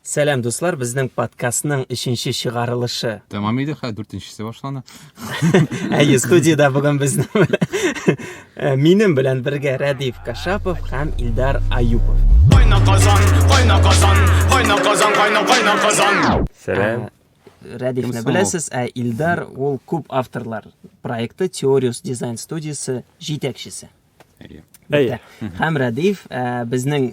Сәлам дуслар, безнең подкастның өченче чыгарылышы. Тәмам иде, хәзер дүртенчесе башлана. Әйе, студиядә бүген безнең э, минем белән бергә Рәдиф Кашапов һәм Илдар Аюпов. Кайна казан, кайна казан, кайна казан, кайна кайна казан. Сәлам. Э, Рәдифне беләсез, ә Илдар ул күп авторлар проекты Теориус дизайн студиясе җитәкчесе. Әйе. Әйе. Һәм Рәдиф э, безнең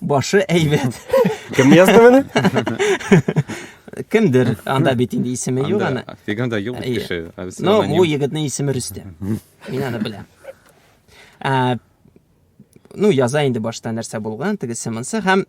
Башы әйбәт. Кем язды моны? Кемдер, анда бит инде исеме юк аны. Фиганда юк кеше. Но бу егетнең исеме Рөстәм. Мин аны беләм. Ә ну, яза инде башта нәрсә булган, тегесе монсы һәм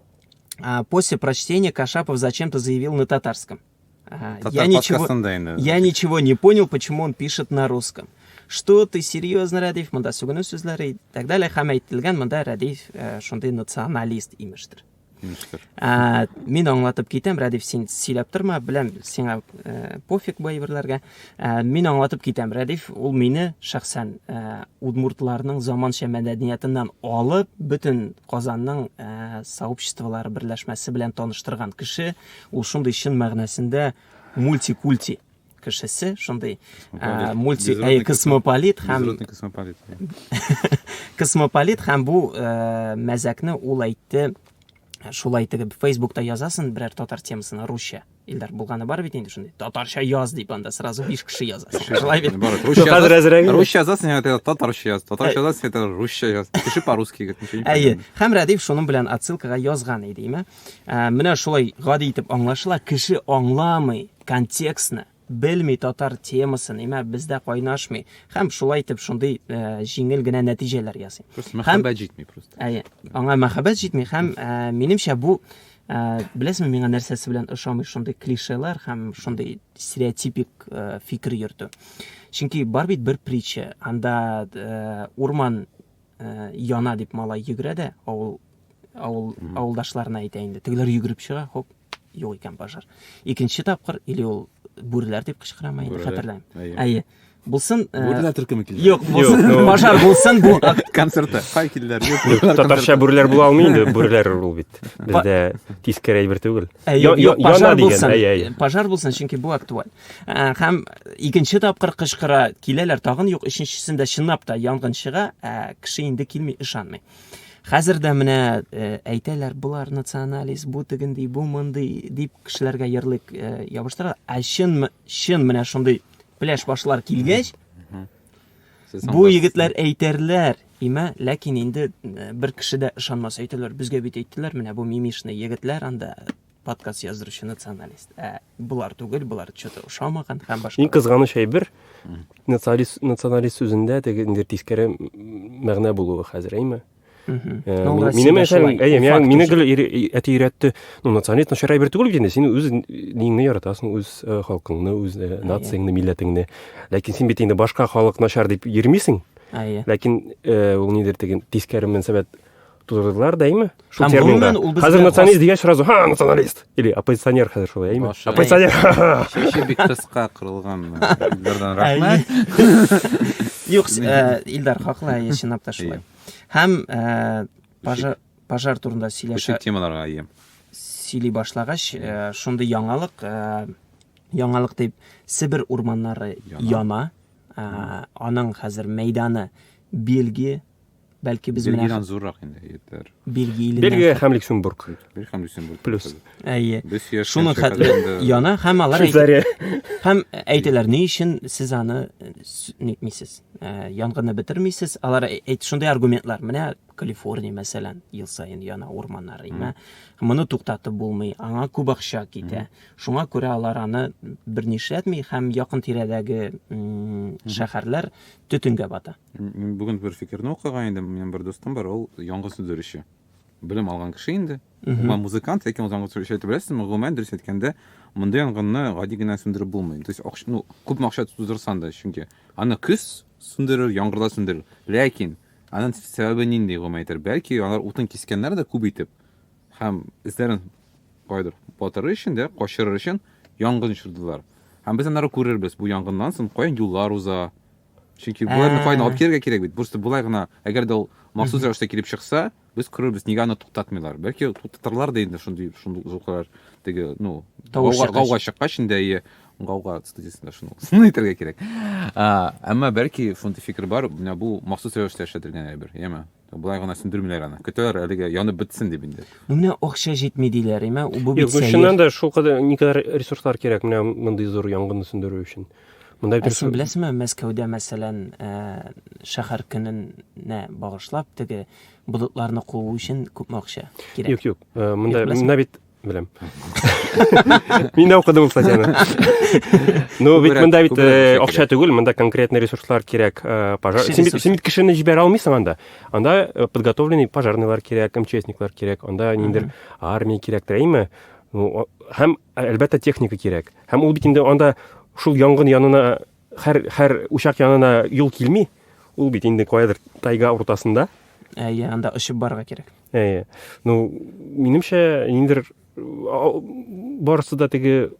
после прочтения Кашапов зачем-то заявил на татарском – Ага, Татар я ничего, инде. Я ничего не понял, почему он пишет на русском. Что ты серьезно, Радиф, монда сүгенү сүзләре и так далее. Һәм әйтелгән монда Радиф э, шундый националист имештер. Имештер. Ә, мин аңлатып китәм, Радиф, син сөйләп торма, беләм, сиңа э, пофиг бу әйберләргә. Ә, мин аңлатып китәм, Радиф, ул мине шәхсән э, удмуртларның заманча мәдәниятеннән алып, бөтен Казанның э, сообществолары берләшмәсе белән таныштырган кеше. Ул шундый чын мәгънәсендә мультикульти кешесе, шундый ә, мульти ә, космополит һәм космополит. космополит һәм бу ә, мәзәкне ул әйтте шулай итеп фейсбукта язасың берәр татар темасына русча Илдар булганы бар бит инде шундый. Татарча яз дип анда сразу 5 кеше яза. Шулай бит. Русча хәзер әзрәк. Русча язасың, әйтә татарча яз. Татарча язасың, әйтә русча яз. Кеше по-русски геть ничего не. Әйе. Һәм Радиф шуның белән отсылкага язган иде, име? Ә, менә шулай гади итеп аңлашыла. Кеше аңламый контекстны, белми татар темасын, имә бездә кайнашмый. Һәм шулай итеп шундый ә, җиңел генә нәтиҗәләр ясый. Просто мәхәббәт җитми просто. Әйе. Аңа мәхәббәт җитми һәм ә, минемчә бу ә, беләсезме миңа нәрсәсе белән ошамый шундый клишелар һәм шундый стереотипик ә, фикер йөртү. Чөнки бар бит бер притча, анда ә, урман ә, яна дип малай йөгерә дә, авыл авыл авылдашларына әйтә инде. Тегеләр йөгереп чыга, хоп, юк икән пожар. Икенче тапкыр или ул бүреләр дип кычкырама инде, хәтерләмим. Әйе. Булсын. Э, Бүрләр төркеме килде. Юк, булсын. Пожар булсын бу концерты. Кай килдер. Татарча бүрләр була алмый инде, бүрләр ул бит. Бездә тискәре әйбер түгел. Яна дигән. Пожар булсын, чөнки бу актуаль. Ә, һәм икенче тапкыр кычкыра, киләләр, тагын юк, өченчесендә чынлап та янгын чыга, ә кеше инде килми, ышанмый. Хәзер дә менә э, әйтәләр, болар националист, бу тегенди, бу мондый дип кешеләргә ярлык э, ябыштыра. Ә чын чын менә шундый пляж башлар килгәч, бу егетләр әйтерләр, имә, ләкин инде э, бер кеше дә ышанмас әйтәләр, безгә бит әйттеләр, менә бу мимишный егетләр анда подкаст яздыручы националист ә болар түгел болар че то ошамаган һәм башка иң кызганыч әйбер националист националист сүзендә теге инде тискәре мәгънә булуы хәзер әйме Мине мәсәлән, әйе, миңа мине гел әти өйрәтте. Ну, националист начар әйбер түгел бит инде. Син үз динеңне яратасың, үз э, халкыңны, үз э, нацияңне, милләтеңне. Ләкин син бит инде башка халык начар дип йөрмисең. Әйе. Ләкин э, ул нидер тиген тискәре мөнәсәбәт Тузырдылар да, әйме? Шул Һәм терминда. гомумән ул безгә Хәзер националист хас- дигәч сразу, ха, националист. Или оппозиционер хәзер шулай, әйме? Башы. Оппозиционер. ха-ха. Шеше бик кыска кырылган. Илдардан рәхмәт. Юк, э, Илдар хаклы, әйе, чынлап та шулай. Һәм э, пожар пожар турында Күчеп сөйләшә темаларга ем. сөйли башлагач, э, шундый яңалык, э, яңалык дип Себер урманнары Яна. яна. Э, Аның хәзер мәйданы Бельгия, Бәлки без менә Бельгиядән зуррак инде итләр. Бельгия иленнән. Бельгия һәм Люксембург. Бер һәм Люксембург. Плюс. Әйе. Без яшь Шуның кенчә хәтле кадәрендә- яна һәм алар әйтә- Швейцария. һәм әйтәләр, ни өчен сез аны э, с- нитмисез, э, янгынны бетермисез? Алар әй- әйт шундый аргументлар. Менә Калифорния, мәсәлән, ел саен яна урманнар имә. Моны туктатып булмый, аңа күп акча китә. Шуңа күрә алар аны берни эшләтми һәм якын тирәдәге м, шәһәрләр төтенгә бата. Мин бүген бер фикерне укыган идем. Минем бер дустым бар, ул яңгы сөдерүче. Белем алган кеше инде. Гомумән музыкант, ләкин ул яңгы сөдерүче әйтеп беләсезме? Гомумән дөрес әйткәндә, мондый янгынны гади генә сүндереп булмый. То есть, акча, ну, күп акча тудырсан да, чөнки аны көз сүндерер, яңгырда сүндерер. Ләкин аның сәбәбе нинди гомумән әйтер? Бәлки алар утын кискәннәр дә күп итеп һәм эзләрен кайдыр батырыр өчен дә, качырыр өчен янгын чырдылар. Һәм без аннары күрербез, бу янгыннан соң каян юллар уза, Чөнки боларны кайны алып килергә кирәк бит. Просто болай гына, әгәр дә ул махсус рәвештә килеп чыкса, без күрербез, нигә аны туктатмыйлар. Бәлки туктатырлар да инде шундый шундый зуклар теге, ну, гауга гауга чыккач инде и гауга студиясендә шуны шуны әйтергә кирәк. Әмма бәлки шундый фикер бар, менә бу махсус рәвештә эшләтелгән әйбер, яме. Болай гына сүндермиләр аны. Көтәләр әлегә янып бетсен дип инде. Ну менә акча җитми диләр, әмма бу бит сәер. Чыннан да шул кадәр никадәр ресурслар кирәк менә мондый зур янгынны сүндерү өчен. Монда бит Син беләсеңме, Мәскәүдә мәсәлән, э, шәһәр көненә багышлап теге болытларны куу өчен күпме акча кирәк? Юк, юк. Э, монда монда бит Беләм. Мин дә укыдым ул статьяны. Ну, бит монда бит э, акча түгел, монда конкретный ресурслар кирәк. Э, пожар. Син бит син бит кешене җибәрә алмыйсың анда. Анда э, подготовленный пожарныйлар кирәк, МЧСниклар кирәк, анда ниндер армия кирәк, әйме? Ну, һәм әлбәттә техника кирәк. Һәм ул бит инде анда шул янгын янына Хәр, хәр учак янына юл килми. Ул бит инде каядыр тайга уртасында. Әйе, анда очып барырга кирәк. Әйе. Ну, минемчә, ниндер барысы да теге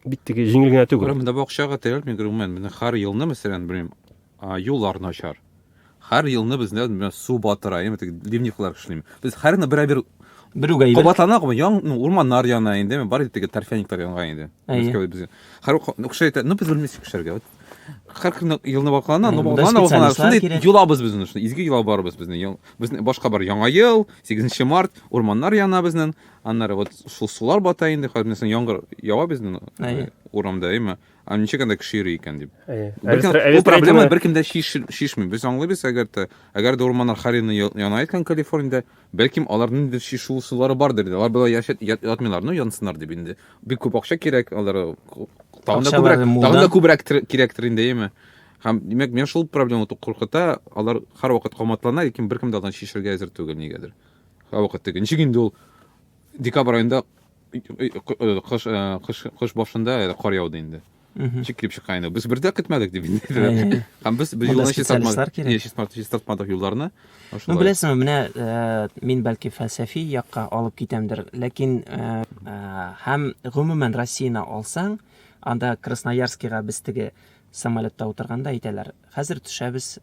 бит теге җиңел генә түгел. Монда бакчага тирәлми, гомумән, менә хәр елны, мәсәлән, белмим, юллар начар. Һәр елны бездә менә су батыра, инде теге ливневлар эшлим. Без һәр елны берәбер Берүгә әйбәт. кабатлана гомы, ян, ну, урманнар яна инде, бар инде теге торфяниклар янган инде. Әйе. Безгә без. Һәр укша әйтә, ну без белмисек эшләргә. Вот. Һәр көнне елны ваклана, ну Әйе, монда ваклана, ваклана. специалистлар Шундый кирәк. йолабыз безне, шундый изге йола бар без безнең. Ял- Безнең башка бар яңа ел, 8 март, урманнар яна безнең. Аннары вот шул сулар бата инде, хәзер менә соң яңгыр ява безнең Әйе. урамда, әйме? Ә ничек анда кеше йөри икән дип. Әйе. Бер Әле кем- сра- әле Бу сра- проблема әйтелмә. беркем дә шиш- шишми. Без аңлыйбыз, әгәр дә әгәр дә урманнар Харины я- яна икән Калифорниядә, бәлкем аларның ниндидер шишу ысуллары бардыр инде. Алар болай яшәп ят- ятмыйлар, ну янсыннар дип инде. Бик күп акча кирәк аларга. Тагын да Акчалары күбрәк, мулдан. тагын да күбрәк тер- кирәктер инде, әйеме? Һәм димәк, менә шул проблема ту- куркыта, алар һәрвакыт каматлана, ләкин беркем дә алдан шишергә әзер түгел нигәдер. Һәрвакыт теге. Ничек инде ул декабрь аенда кыш кыш кыш башында кар яуды инде ничек килеп чыккан инде без бер дә көтмәдек дип һәм без без юлны чистартмадык юлларны ну беләсеңме менә э, мин бәлки фәлсәфи якка алып китәмдер ләкин э, э, һәм гомумән россияны алсаң анда красноярскига без теге самолетта утырганда әйтәләр хәзер төшәбез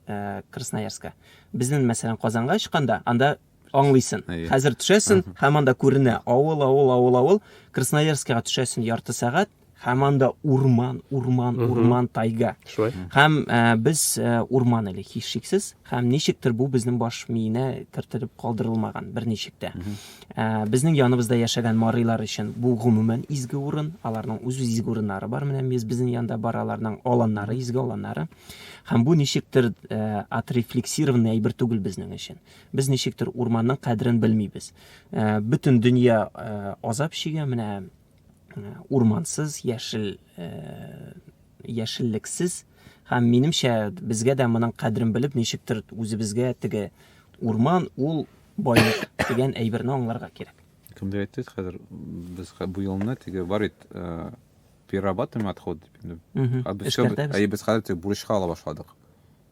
красноярска безнең мәсәлән казанга очканда анда аңлыйсын. Хәзер төшәсен, һәм анда күренә авыл, авыл, авыл, авыл. Красноярскага төшәсен ярты сәгать, һәм анда урман, урман, урман, тайга. Шулай. Һәм э, без э, урман әле һич шиксез, һәм ничектер бу безнең баш миенә кертелеп калдырылмаган берничек тә. Э, безнең яныбызда яшәгән марыйлар өчен бу гомумән изге урын, аларның үз изге урыннары бар, менә без безнең янда бар аларның аланнары, изге аланнары. Һәм бу ничектер э, отрефлексированный әйбер түгел безнең өчен. Без ничектер урманның кадерен белмибез. Э, бөтен дөнья э, азап чигә, менә э, урмансыз, яшел яшеллексез һәм минемчә безгә дә моның кадерен белеп ничектер үзебезгә теге урман ул байлык дигән әйберне аңларга кирәк. Кемдер әйтте хәзер без бу елны теге бар бит перерабатываем отходы дип инде. Ә без хәзер бурычка ала башладык.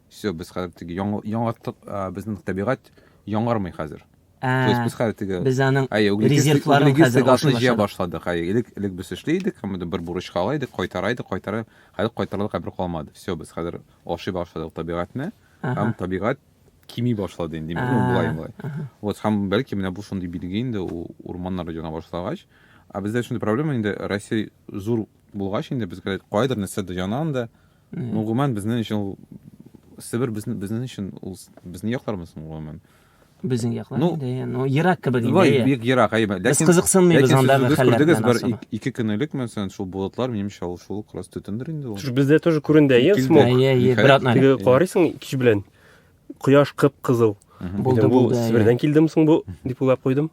Все, без хәзер теге яңарттык, безнең табигать яңармый хәзер. То есть без хәзер теге без аның резервларын хәзер гашны җыя башладык. Хәй, элек элек без эшли идек, һәм бер бурычка ала идек, кайтара идек, кайтара. Хәзер кайтарлык әбер калмады. Все, без хәзер ашый башладык табигатьне. Һәм табигать кими башлады инде, мин булай булай. Вот һәм бәлки менә бу шундый билге инде ул урманнар җана башлагач. Ә бездә шундый проблема инде Россия зур булгач инде безгә кайдыр нәрсә дә җана анда. Ну, гомумән, безнең өчен ул Себер безнең безнең өчен ул безнең яклармы соң гомумән? Безнең яклар ну, инде, ну, ерак кебек инде. Бай, бик ерак, әйе. Без кызыксынмыйбыз анда хәлләр белән. Бер ике көнлек мәсәлән, шул болытлар минемчә ул шул крас төтендер инде ул. Түш бездә тоже күренде, әйе, смог. Әйе, әйе, бер атна. Теге карыйсың кич белән. Кояш кып-кызыл. Булды, булды. Себердән килдем соң бу, дип уйлап куйдым.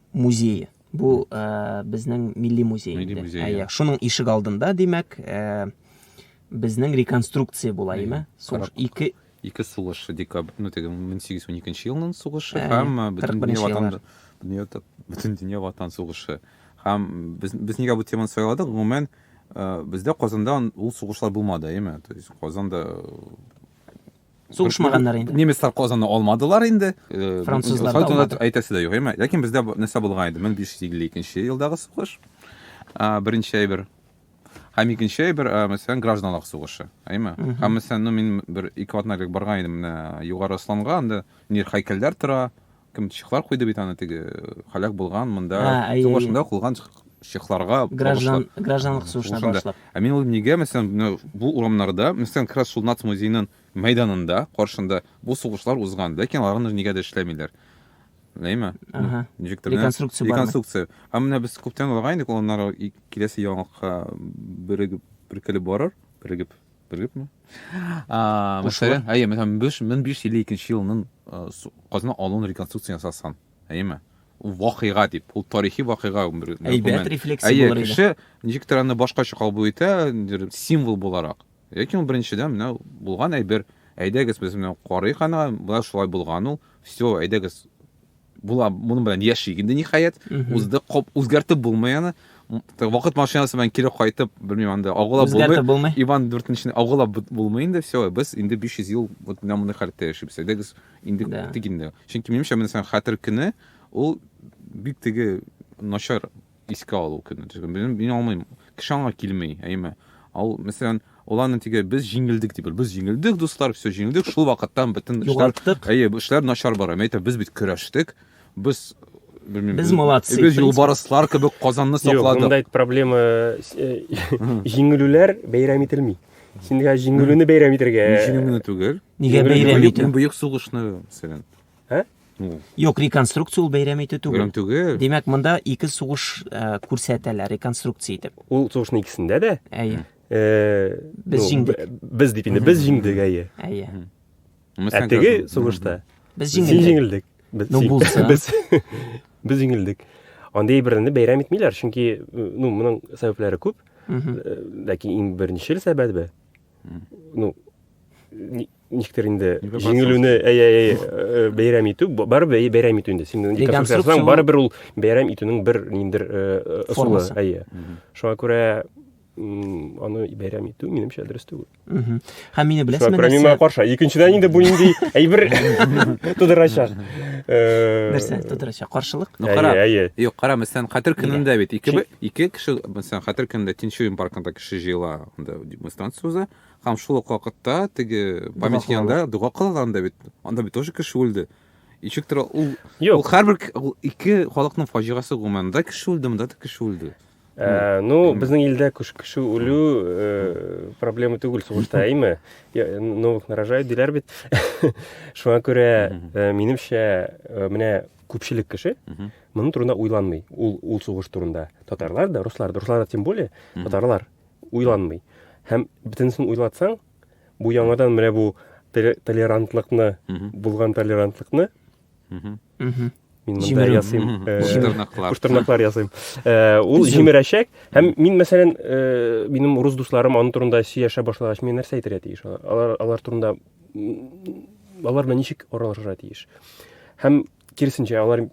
музее. Бу э, безнең милли музей. Милли инде. музей, Ә, иә. иә. Шуның ишек алдында, димәк, э, безнең реконструкция була, Иә, яме? Сугыш карап. ике Ике сугыш декабрь, ну теге 1812 елның сугышы Ә, һәм э, бөтен 41 дөнья ватан еллар. дөнья та- бөтен дөнья ватан сугышы. Һәм без без нигә бу теманы сайладык? Гомумән, э, бездә Казанда ул сугышлар булмады, әйме? То есть Казанда э, Сугышмаганнар инде. Немецлар Казанны алмадылар инде. Э, Французлар да алмады. Әйтәсе дә юк, әйме? Ләкин бездә нәрсә булган иде? 1552 елдагы сугыш. Беренче әйбер. Һәм икенче әйбер, мәсәлән, гражданлык сугышы, әйме? Һәм мәсәлән, ну мин бер ике атна элек барган идем менә Югары Асланга, анда нир һәйкәлләр тора, Кем чехлар куйды бит аны теге халәк булган монда а, әй, башында кылган чехларга граждан гражданлык сугышына башлап. Ә мин уйлыйм, нигә мәсәлән бу урамнарда, мәсәлән, Крас Шулнац музеенын мәйданында каршында бу сугышлар узган, ләкин аларны нигә дә эшләмиләр. Ләйме? Ага. Ничектер. Реконструкция бар. Реконструкция. Ә менә без күптән алган идек, аннары киләсе яңалыкка бирегеп, биркелеп барыр, бирегеп белгепме мәсәлән әйе мең биш йөз илле икенче елның казна алуын реконструкция ясасын әйеме вакыйга дип ул тарихи вакыйга әйбәт рефлексия әйе кеше ничек тә аны башкача кабул итә символ буларак яки ул беренчедән менә булган әйбер әйдәгез без менә карыйк аны болай шулай булган ул все әйдәгез була, моның белән яшик инде ниһаять. Узды, коп үзгәртеп булмый аны. Вакыт машинасы белән кире кайтып, белмим анда агыла булмый. Үзгәртеп булмый. Иван 4-нче агыла булмый инде, все, без инде 500 ел вот менә мондый халәттә яшибез. Әйдәгез, инде да. тик инде. Чөнки минемчә, менә хәтер көне ул бик теге начар Искә алу көне. Мин, мин алмыйм. Кеше аңа килми, әйеме? Ал, мәсәлән, ул аны тиге, без җиңелдек дип, без җиңелдек, дуслар, все, җиңелдек, шул вакыттан бөтен эшләр, Югалттык. әйе, бу эшләр начар бара. Мин әйтәм, без бит көрәштек, без, белмим, Без молодцы, без в принципе. юлбарыслар кебек Казанны Юк, сакладык. монда это проблема э, җиңелүләр бәйрәм ителми. Син дә җиңелүне бәйрәм итәргә. Мин җиңелүне түгел. Нигә Җиңелүне бәйрәм түгел. итү? Мин бөек сугышны, мәсәлән, Ә? Юк, реконструкция ул бәйрәм итү түгел. Бәйрәм түгел. Димәк, монда ике сугыш э, күрсәтәләр реконструкция итеп. Ул сугышның икесендә дә. Әйе. Э, без ну, җиңдек. Без дип инде без җиңдек, әйе. Әйе. Ә теге сугышта без җиңелдек. Без ну, булса. Без, без җиңелдек. Андый берне бәйрәм итмиләр, чөнки ну, моның сәбәпләре күп. Ләкин иң беренчел сәбәбе ну ничектер инде җиңелүне әй әй э, бәйрәм итү барыбер бәйрәм итү инде син деконструкция барыбер ул бәйрәм итүнең бер ниндер э, ысулы әйе шуңа күрә аны бәйрәм итү минемчә дөрес түгел һәм мине беләсеңме шуңа күрә мин моңа каршы икенчедән инде бу нинди әйбер тудырачак э, нәрсә тудырачак каршылык ну кара әйе юк кара мәсәлән хәтер көнендә бит ике ике кеше мәсәлән хәтер көнендә тинчурин паркында кеше җыела анда демонстрация уза. Һәм шул ук вакытта теге памятник янында дога кылалар анда бит. Анда бит тоже кеше үлде. Ничек тора ул? Ул һәрбер ике халыкның фаҗигасе гомумән. Да кеше үлде, монда да кеше үлде. Ә, ну, безнең илдә күш кеше үлү э, проблема түгел сугышта, әйме? Новых нарожай диләр бит. Шуңа күрә, э, минемчә, э, менә күпчелек кеше моның турында уйланмый. Ул ул сугыш турында татарлар да, руслар да, руслар да тем более, татарлар уйланмый. Һәм бөтенесен уйлатсаң, бу яңадан менә бу толерантлыкны, булган толерантлыкны мин монда ясыйм куштырнаклар ясыйм ул җимерәчәк һәм мин мәсәлән минем урыс дусларым аның турында сөйләшә башлагач мин нәрсә әйтергә тиеш алар алар турында алар белән ничек аралашырга тиеш һәм киресенчә алар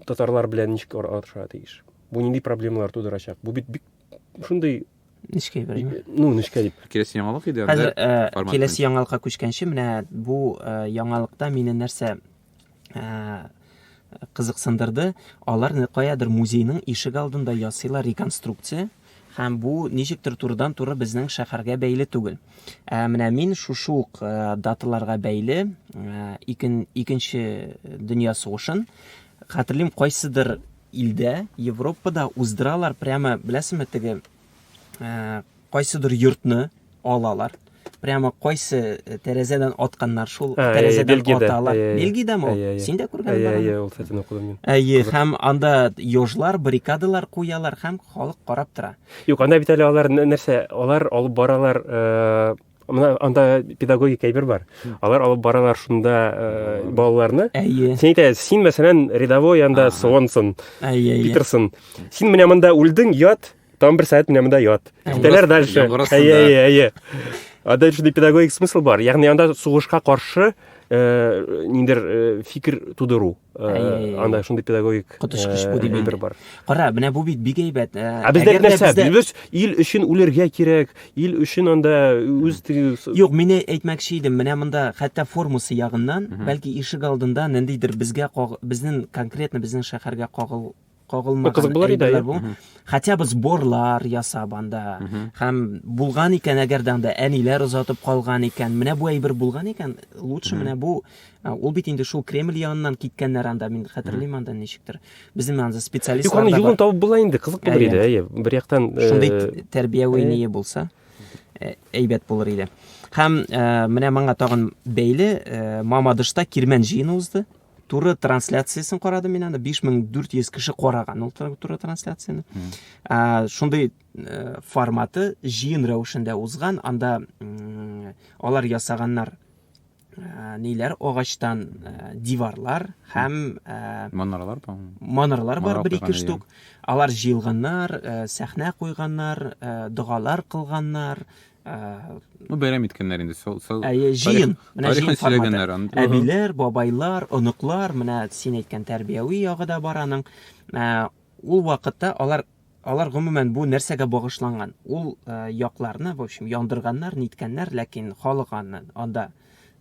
татарлар белән ничек аралашырга тиеш бу нинди проблемалар тудырачак бу бит бик шундый нечкә бер ну нечкә дип киләсе яңалык иде хәзер э, киләсе яңалыкка күчкәнче менә бу э, яңалыкта мине нәрсә э, кызыксындырды алар каядыр музейның ишек алдында ясыйлар реконструкция һәм бу ничектер турыдан туры безнең шәһәргә бәйле түгел ә менә мин шушы ук даталарга бәйле икен, икенче дөнья сугышын хәтерлим кайсыдыр Илдә, Европада уздыралар прямо, беләсеме, теге кайсыдыр йортны алалар. Прямо кайсы э, тәрәзәдән атканнар, шул ә, тәрәзәдән ә, аталар. Ә, Бельгиядәме ул? Ә, ә, Син дә күргән ә, ә, ул сәтен укыдым мин. Әйе, һәм анда ёжлар, баррикадалар куялар һәм халык карап тора. Юк, анда бит әле алар нәрсә, алар алып баралар, э, мына анда педагогик әйбер бар алар алып баралар шунда э, балаларны әйе сен әйтә син мәсәлән рядовой анда сонсон әйе питерсон син менә монда үлдең ят там бер сәгать менә монда ят китәләр дальше әйе әйе әйе анда шундый педагогик смысл бар ягъни анда сугышка каршы э, ниндер э, фикер тудыру анда шундый педагогик коточкыч бу дип әйтер бар кара менә бу бит бик әйбәт ә бездә нәрсә без ил өчен үлергә кирәк ил өчен анда үз юк мин әйтмәкче идем менә монда хәтта формасы ягыннан бәлки ишек алдында ниндидер безгә безнең конкретно безнең шәһәргә кагыл кагылмаган кызык булыр иде әйберләр бу хотя бы сборлар ясап анда һәм булган икән әгәр дә анда әниләр озатып калган икән менә бу әйбер булган икән лучше менә бу ул бит инде шул кремль яныннан киткәннәр анда мин хәтерлим анда ничектер безнең анда специалист юк аны юлын табып була инде кызык булыр иде әйе бер яктан э, шундый тәрбияви ние булса э, әйбәт булыр иде һәм э, менә моңа тагын бәйле мамадышта кирмән җыены узды туры трансляциясен карадым мин аны биш мең дүрт йөз кеше караган ул туры трансляцияны шундый э, форматы җыен рәвешендә узган анда алар ясаганнар э, ниләр агачтан э, диварлар һәм манаралар бар манаралар бар бер ике штук алар җыелганнар сәхнә куйганнар догалар кылганнар Ну, бәйрәм иткәннәр инде. Сол, сол, Әйе, җыен. Менә җыен форматы. Әбиләр, бабайлар, оныклар, менә син әйткән тәрбияви ягы да бар аның. Ул вакытта алар алар гомумән бу нәрсәгә багышланган? Ул якларны, в общем, яндырганнар, ниткәннәр, ләкин халык аны анда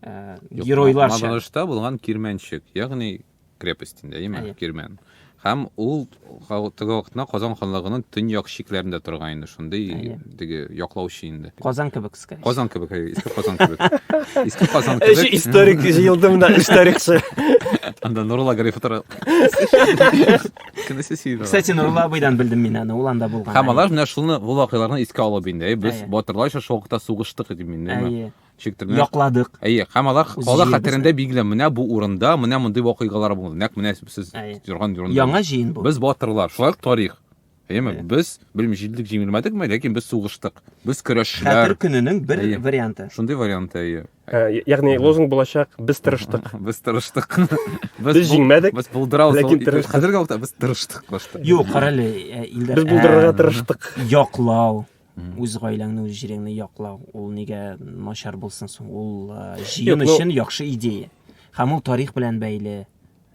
геройларча. Мабалышта булган кирмәнчек, ягъни крепостендә, яме, Әйе. кирмән. Һәм ул га- теге вакытта Казан ханлыгының төньяк чикләрендә торган инде шундый Әйе. теге яклаучы инде. Казан кебек, скорее. всего. Казан кебек, әйе, иске Казан кебек. Иске Казан Эш кебек. историк җыелды монда, эш тарихчы. Анда Нурулла Гариф утыра. Кенесе сөйдө. Кстати, Нурулла абыйдан белдем мин аны, ул анда булган. Һәм алар менә шуны бу вакыйгаларны искә алып инде. Әйе, Без Әйе. батырларча шул вакытта сугыштык дип инде. Әйе. чиктерне якладык. Әйе, һәм алар кала хәтерендә билгеле, менә бу урында, менә мондый вакыйгалар булды. Нәкъ менә сез торган урында. Яңа җыен бу. Без батырлар, шулай тарих. Әйеме? Без белми җиңдек, җиңелмәдекме, ләкин без сугыштык. Без көрәшчеләр. Хәтер көненең бер варианты. Шундый варианты, әйе. Ә, ягъни лозунг булачак, без тырыштык. Без тырыштык. Без җиңмәдек. Без булдырабыз. Ләкин тырыштык. Хәзерге вакытта без тырыштык башта. Юк, карале, э, Илдар. Без булдырырга э, тырыштык. Яклау. Үз гаиләңне, үз җиреңне яклау, ул нигә начар булсын соң? Ул җыен өчен яхшы идея. Һәм ул тарих белән бәйле.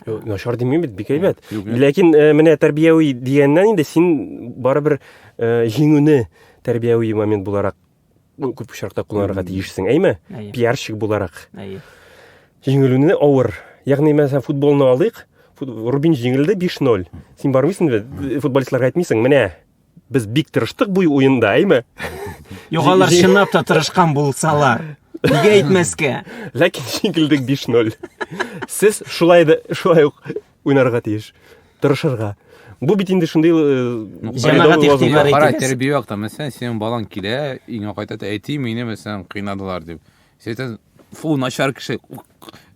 Начар димим бит, бик әйбәт. Ләкин менә тәрбияви дигәннән инде син барыбер җиңүне тәрбияви момент буларак күп очракта кулланырга тиешсең, әйме? Пиарщик буларак. Әйе. Җиңелүне авыр. Ягъни, мәсәлән, футболны алыйк, Рубин җиңелде 5-0. Син бармыйсың бит, футболистларга әйтмисең, менә, Без бик тырыштык бу уенда, әйме? Югалар чынлап та тырышкан булсалар. Нигә әйтмәскә? Ләкин җиңелдек 5-0. Сез шулай да шулай ук уйнарга тиеш. Тырышырга. Бу бит инде шундый э, җәмәгать игътибар итә. Тәрбия вакытта, мәсәлән, синең балаң килә, иңә кайтат, әти мине мәсәлән кыйнадылар дип. Сәйтән, фу, начар кеше,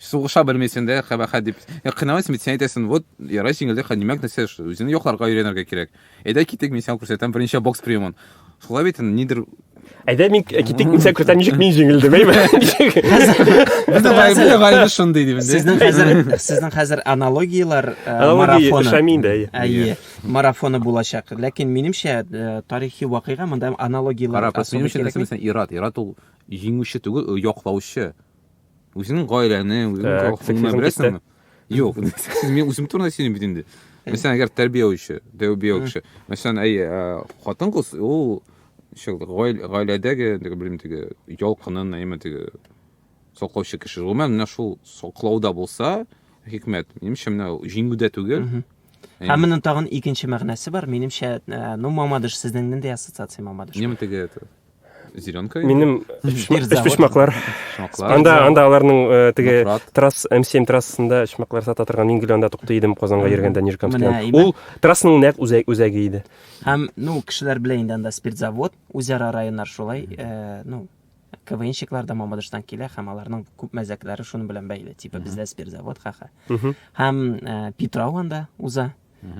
сугыша белмисең дә кабахәт дип ә кыйналасың бит сен әйтәсең вот ярай җиңелдек димәк нәрсә үзеңне якларга өйрәнергә кирәк әйдә китик мин сиңа күрсәтәм беренче бокс приемын шулай бит нидер әйдә мин китик мин сиңа күрсәтәм ничек мин җиңелдем әйме гайбе шундый дип сезнең хәзер сезнең хәзер аналогияләр марафоны әйе марафоны булачак ләкин минемчә тарихи вакыйга монда аналогияләр ир ат ир ат ул җиңүче түгел яклаучы Үзеңнең гаиләне, үзеңнең колхозны беләсеңме? Юк, сез мин үзем турында сөйлим бит инде. Мәсәлән, әгәр тәрбияче, тәрбияче. Мәсәлән, әй, хатын-кыз ул шул гаиләдәге, белмим, теге ялкынын, әйме теге саклаучы кеше. Гомумән, менә шул саклауда булса, хикмәт. Минемчә, менә җиңүдә түгел. Ә менә тагын икенче мәгънәсе бар, минемчә, ну, мамадыш, сезнең нинди ассоциация мамадыш? Нема теге это? зеленка минем өчпочмаклар анда анда аларның э, теге трасс м семь трассасында өчмаклар сата торган мин гел анда туктый идем казанга йөргәндә нижкамскидан ул трассаның нәкъ үзәге иде һәм ну кешеләр белә инде анда спиртзавод үзара районнар шулай э, ну КВНщиклар да Мамадыштан килә һәм аларның күп мәзәкләре шуның белән бәйле. Типа бездә спиртзавод ха-ха. Һәм э, Питрау анда уза.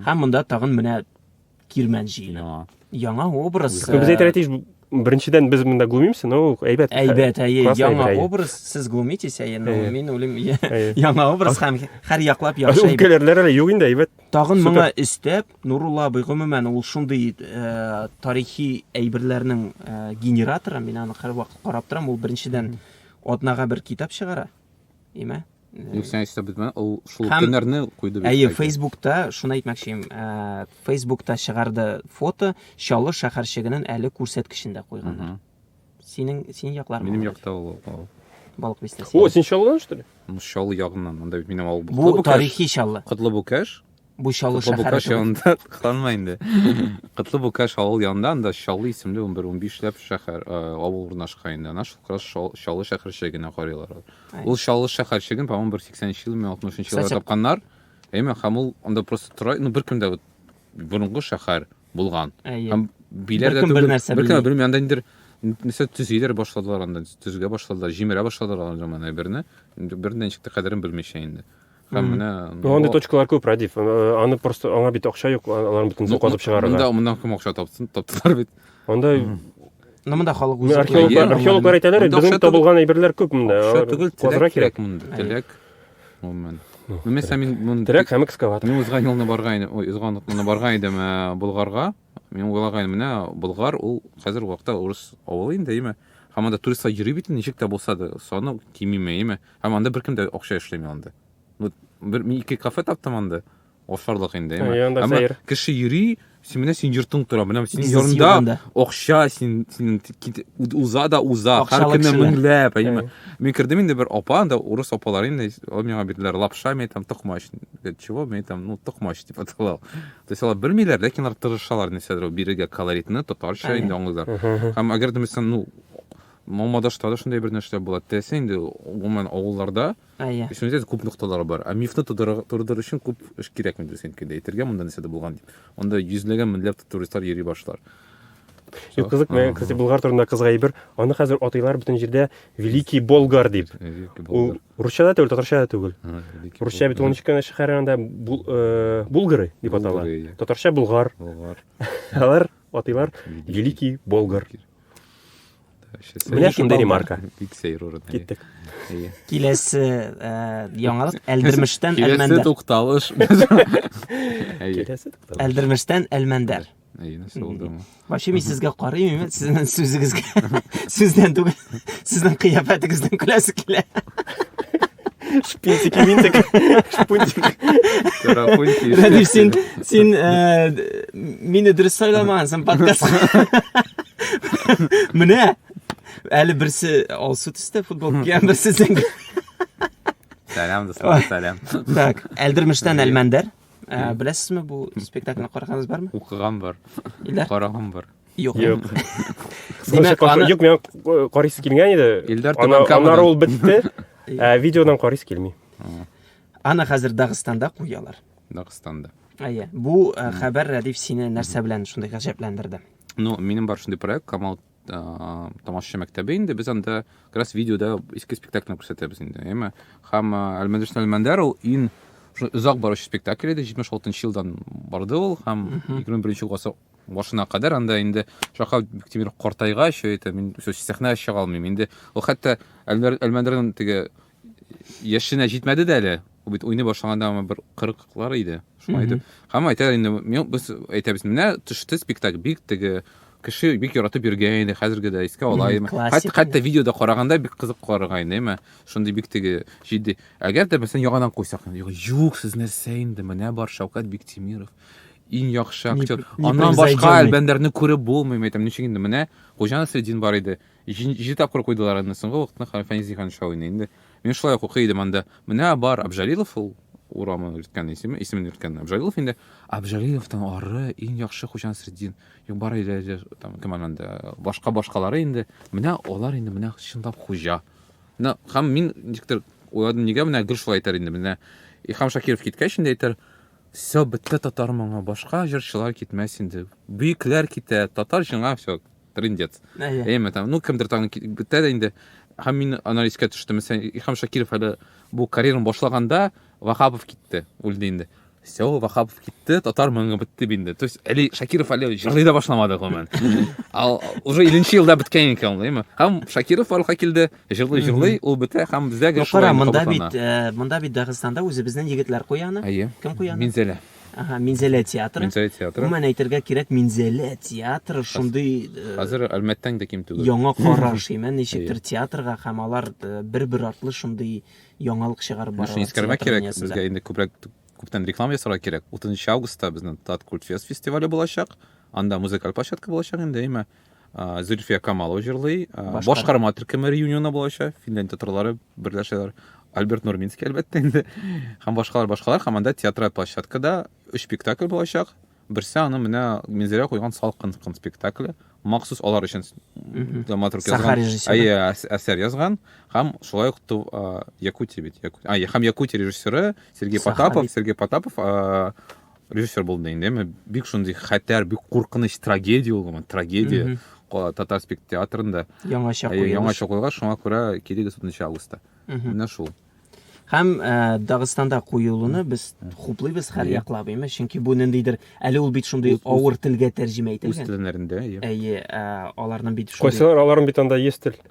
Һәм монда тагын менә Кирмән җыены. Яңа образ. Без э, әйтәләтеш, беренчедән без монда глумимся, но әйбәт. Әйбәт, әйе, яңа образ, сез глумитесь, әйе, но мин үлем яңа образ һәм һәр яклап яхшы. Үткәләрләр әле юк инде, әйбәт. Тагын моңа өстәп, Нурулла абый гомумән ул шундый э, тарихи әйберләрнең э, генераторы, мин аны һәрвакыт карап торам, ул беренчедән атнага бер китап чыгара. Имә? Юк, сен әйтсә бит, ул шул Һәм... көннәрне куйды бит. Әйе, Фейсбукта, шуны әйтмәкчем, ә, Фейсбукта чыгарды фото Чаллы шәһәрчегенең әле күрсәткечендә куйганнар. Синең син яклар. Минем якта ул. Балык бистәсе. О, син Чаллыдан что ли? Ну, Чаллы ягыннан, монда бит минем авыл. Бу тарихи Чаллы. Котлы Букаш. Бу Чаллы Котлы шәһәре Букаш түгел. янында кыланма инде. Котлы Букаш авыл янында анда Чаллы исемле 11-15 ләп шәһәр, э, авыл урнашкан инде. Ана шул кырас Шал- Чаллы шәһәрчегенә карыйлар. алар. Ай. Ул Чаллы шәһәрчеген, по-моему, бер 80-нче елмы, 60-нчы елларда Кстати- тапканнар. Әйме, һәм ул анда просто тора, ну бер кем дә вот борынгы шәһәр булган. Әйе. Һәм биләр дә Беркем бер түгел, нәрсә беркем дә белми. белми, анда инде нәрсә төзиләр башладылар анда, төзегә башладылар, җимерә башладылар андый заман әйберне. Инде Бер ничек тә кадерен белмичә инде. Һәм менә Андый ну, точкалар күп, Радиф. Э, аны просто аңа бит акча юк, аларны бөтен ну, казып чыгарырга. Монда моннан кем акча тапсын, таптылар бит. Анда Ну, монда халык үзе. Археологлар, археологлар әйтәләр, безнең табылган әйберләр күп монда. Акча түгел, терәк кирәк монда. Терәк. Гомумән. Ну, мәсәлән, мин монда терәк һәм экскаватор. Мин узган елны барган идем, ой, узган атнаны барган идем э, Болгарга. Мин уйлаган, менә Болгар ул хәзер вакытта урыс авылы инде, әйме? Һәм анда туристлар йөри бит, ничек тә булса да, саны кимиме, әйме? Һәм анда беркем дә акча эшләми анда. Ну, бер мин ике кафе таптым анда. Ашарлык инде, әйме? Әмма кеше йөри, син менә син йортың тора, менә син йортыңда акча, син син уза да уза, һәр көнне меңләп, әйме? Мин кердем инде бер апа, анда урыс апалар инде, ул миңа бирделәр лапша, мен әйтәм, токмач. Чего? Мен әйтәм, ну, токмач дип атала. То есть алар белмиләр, ләкин алар тырышалар нәрсәдер ул бирергә колоритны, татарча инде аңлыйлар. Һәм әгәр дә мәсәлән, ну, Мамадашта да шундый бер нәрсә була. Теләсә инде гомумән авылларда Әйе. Исемдә күп нокталары бар. Ә мифны тудырыр тудырыр өчен күп эш кирәкми дөресен килде. Әйтергә монда нәрсә дә булган дип. Анда йөзләгән меңләп туристлар йөри башлар. Юк, кызык, мен, кстати, Болгар турында кызга әйбер, аны хәзер атыйлар бөтен җирдә Великий Болгар дип. Великий Болгар. Русча да түгел, татарча да түгел. Русча бит ул ничек шәһәрендә э, булгары дип атала. Татарча булгар. Булгар. Алар атыйлар Великий Болгар. Менә шундый ремарка. Бик сәер урын. Киттек. Киләсе э, яңалык Әлдермештән Әлмәндәр. Киләсе тукталыш. Киләсе тукталыш. Әлдермештән Әлмәндәр. Әйе, нәрсә булды аңа? Вообще мин сезгә карыйм, именно сезнең сүзегезгә. Сүздән түгел, сезнең кыяфәтегездән көләсе килә. Шпинтик, минтик, шпунтик. Карапунтик. Рәдиф, син, син э, мине дөрес сайламагансың подкастка. Менә, әле берсе алсу төстә футбол кигән, берсе зәңгәр. Сәлам, дуслар, сәлам. Так, Әлдермештән Әлмәндәр. Ә, беләсезме, бу спектакльне караганыгыз бармы? Укыган бар. Илдар? Караган бар. Юк. Юк. Димәк, аны... Юк, миңа э, карыйсы килгән иде. Илдар Аннары ул бетте. Ә видеодан карыйсы килми. Аны хәзер Дагыстанда куялар. Дагыстанда. Әйе. Бу э, хәбәр Рәдиф сине нәрсә белән шундый гаҗәпләндерде? Ну, минем бар шундый проект, Камал тамашачы мәктәбе инде без анда как раз видеода иске спектакльне күрсәтәбез инде әйме һәм әлмәдешн әлмәндәр ул иң озак баручы спектакль иде җитмеш алтынчы елдан барды ул һәм егерме беренче гасыр башына кадәр анда инде шаха бектимир картайгач әйтә мин сәхнәгә чыга алмыйм инде ул хәтта әлмәндәрнең теге яшенә җитмәде дә әле. Ул бит уйный башлаганда аңа бер 40-лар иде. Шуңа әйтеп. Һәм әйтә инде, мин без әйтәбез, менә төште спектакль, бик теге кеше бик яратып йөргән иде, хәзерге дә искә ала иде. Хәтта хәтта видеода караганда бик кызык карарга инде, әмма шундый бик теге җитди. Әгәр дә мәсәлән яңадан куйсак, юк, сез нәрсә инде, менә бар Шәүкәт Биктимиров иң яхшы актер. Аннан башка Әлбәндәрне күреп булмый, әйтәм, ничек инде менә Хуҗа Насретдин бар иде. Җиде тапкыр куйдылар аны, соңгы вакытны Фәнис Зиһанша уйный инде. Мин шулай ук укый идем анда. Менә бар, Абжалилов ул урамы йөрткән исеме, исемен йөрткән Абжалилов инде. Абжалиловтан ары иң яхшы Хуҗа Насретдин, юк бар иде, там кем анда, башка башкалары инде. Менә алар инде менә чынлап хуҗа. Менә һәм мин ничектер уйладым, нигә менә гел шулай әйтер инде. Менә Ихам Шакиров киткәч инде әйтер, все, бетте татар моңы, башка җырчылар китмәс инде. Бөекләр китә, татар җыңа все. трындец. Әйеме там, ну кемдер там бетә дә инде. Һәм мин ана искә төштем. Мәсәлән, Илһам Шакиров әле бу карьерын башлаганда Вахапов китте, үлде инде. Все, Вахапов китте, татар моңы бетте инде. То есть әле Шакиров әле җырлый да башламады гомумән. Ал уже 1 елда беткән икән, әйеме? Һәм Шакиров барлыкка килде, җырлый җырлый, ул бетә һәм безгә гәш. Кара, монда бит, э, монда бит Дагыстанда үзебезнең егетләр куяны. Кем куяны? Минзәлә. Ага, Минзәлә театры. Минзәлә театры. Гомумән әйтергә кирәк, Минзәлә театры шундый э, Хәзер Әлмәттән дә ким түгел. Яңа караш, имә ничектер театрга һәм алар э, бер-бер артлы шундый яңалык чыгарып баралар. Шуны искәрмәк кирәк, безгә инде күбрәк күптән реклама ясарга кирәк. 30 августта безнең Тат Культфест фестивале булачак. Анда музыкаль площадка булачак инде, имә. ә, Зөлфия Камалова җырлый. Ә, башкарма төркеме реюнионы булачак. Финлянд татарлары берләшәләр. Альберт Нурминский, әлбәттә инде. Һәм башкалар, башкалар. Һәм анда театраль площадкада өч спектакль булачак. Берсе аны менә Минзәлә куйган Салкын кын спектакле. Махсус алар өчен драматург язган. Әйе, әсәр язган. Һәм шулай ук Якутия бит. Якутия. А, һәм Якутия режиссеры Сергей Потапов, Сергей Потапов режиссер булдым дигәндә мен бик шундый хәтәр бик куркыныч трагедия ул гомумән трагедия татар спектр театрында яңача куелыш яңача куелган шуңа күрә килегез десятынчы августта менә шул һәм ә, дагыстанда куюлыны без хуплыйбыз һәр яклап әйме чөнки бу ниндидер әле ул бит шундый авыр телгә тәрҗемә ителгән үз телләрендә әйе аларның бит кайсылар аларның бит анда есть тел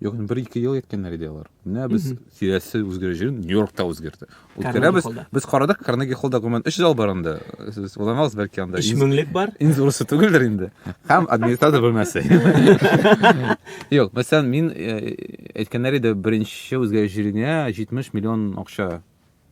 Юк, инде бер-ике ел әйткәннәр иде алар. Менә без киләсе үзгәрү җирен Нью-Йоркта үзгәртә. Үткәрәбез. холлда. Без карадык, Карнеги холлда гомумән 3 зал бар инде. Сез уйланагыз, бәлки анда Өч иң- меңлек бар. иң зурысы түгелдер инде. Һәм администратор бүлмәсе. Юк, мәсәлән, мин э, әйткәннәр иде, беренче үзгәрү җиренә 70 миллион акча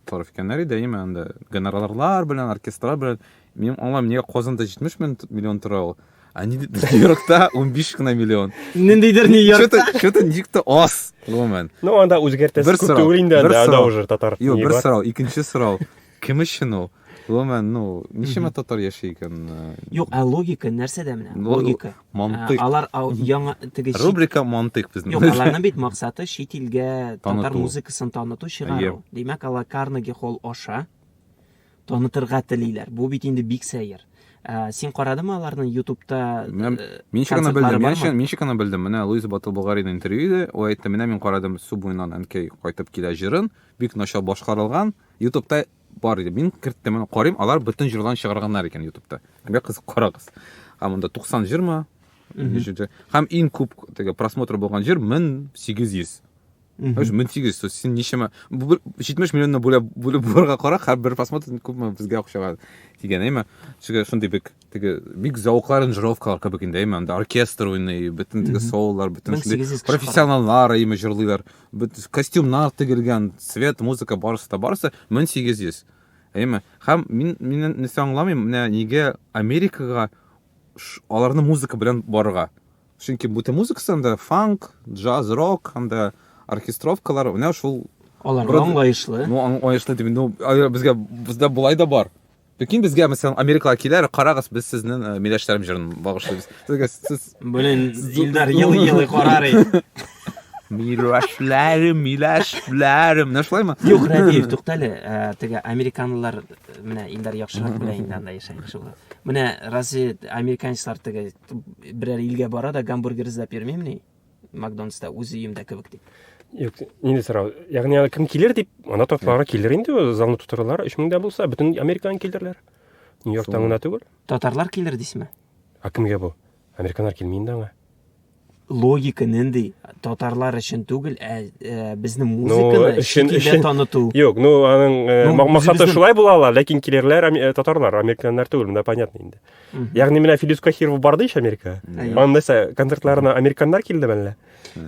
Тариф икәннәр иде, әйеме, анда гонорарлар белән, оркестрлар белән. Минем аңлам, нигә Казанда 70 миллион тора ул? А Нью-Йоркта 15 кына миллион. Ниндидер Нью-Йоркта. Что-то Нью-Йоркта аз, гомумән. Ну, анда үзгәртәсе күп түгел инде, анда уже татар. Юк, бер сорау, икенче сорау. Кем өчен ул? Гомумән, ну, ничема татар яши икән? Э, Юк, ә логика нәрсәдә менә? Логика. Мантыйк. Ә, алар ау, яңа теге чит... Рубрика Мантыйк безнең. Юк, аларның бит максаты чит илгә татар музыкасын таныту, чыгару. Димәк, алар Карнеги холл аша танытырга телиләр. Бу бит инде бик сәер. Ә, син карадымы аларның ютубта Мен э, шикана белдем, мин шикана, мин шикана белдем. Менә Луиза Батылболгарина интервью иде, ул әйтте, менә мин карадым Су буеннан әнкәй кайтып килә җырын, бик начар башкарылган. Ютубта бар иде. Мин керттем, аны карыйм, алар бөтен җырларын чыгарганнар икән ютубта. Бик кызык, карагыз. Һәм монда 90 җырмы? Ничәнче? Һәм иң күп теге просмотр булган җыр 1800. Өч 1800, то есть син ничәмә бу бер- 70 миллионны бүләп бүлеп булырга кара, һәр бер просмотр күпме безгә акчага тигән, әйме? Чөнки шундый бик теге бик зәвыклы аранжировкалар кебек инде әйме анда оркестр уйный бөтен теге сололар бөтен профессионаллар әйме җырлыйлар костюмнар тегелгән свет музыка барысы да барысы мең сигез йөз әйме һәм мин мин нәрсә аңламыйм менә нигә америкага аларны музыка белән барырга чөнки бөтен музыкасы анда фанк джаз рок анда оркестровкалар менә шул алар аңлаешлы ну аңлаешлы дип инде безгә бездә болай да бар Ләкин безгә, мәсәлән, Америкага киләр, карагыз, без сезнең э, миләшләрем җырын багышлыйбыз. Сезгә сез Блин, Илдар елый-елый карар инде. миләшләрем, миләшләрем. Менә шулаймы? Юк, Рәдиев, тукта әле. Ә, Теге американлылар э, менә Илдар яхшырак белә инде анда яшәгән кеше була. Менә разве американецлар теге берәр илгә бара да гамбургер эзләп йөрмимени? Макдональдста үз өемдә кебек дип. Юк, инде сорау. Ягъни аны кем килер дип, ана татарлары килер инде, ул залны тутырырлар, 3000 дә булса, бөтен Америкадан килерләр. Нью-Йорктан гына түгел. Татарлар килер дисме? А кемгә бу? Американнар килми инде аңа. Логика нинди? Татарлар өчен түгел, ә, ә безнең музыканы Ну, өчен- шикелдә өчен. таныту. Юк, ну аның э, Ну, ма- максаты үзебезнең- шулай була ала, ләкин килерләр ами- э, татарлар, американнар түгел, монда понятно инде. Ягъни менә Филис Кахиров барды ич Америка. Аның нәрсә, концертларына американнар килдеме әллә?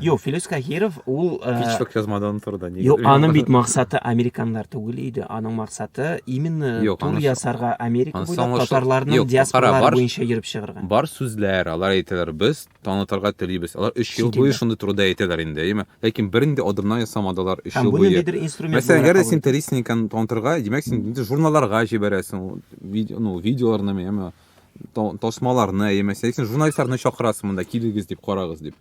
Юк, Филис Кахиров ул Һич тә язмадан торды. Юк, аның бит максаты американнар түгел иде. Аның максаты именно тур ясарга Америка буйлап татарларның диаспоралары буенча йөреп чыгарга. Бар сүзләр, алар әйтәләр, без танытырга телибез. Алар өч ел буе шундый турыда әйтәләр инде, әйеме? Ләкин бернинди адымнар ясамадылар өч ел буе. Һәм буны нидер инструмент буларак. Мәсәлән, әгәр дә син Телесниканы танытырга, димәк, син инде журналларга җибәрәсең, ну, видеоларны, әйеме, тасмаларны, әйеме, син журналистларны чакырасың монда, килегез дип, карагыз дип.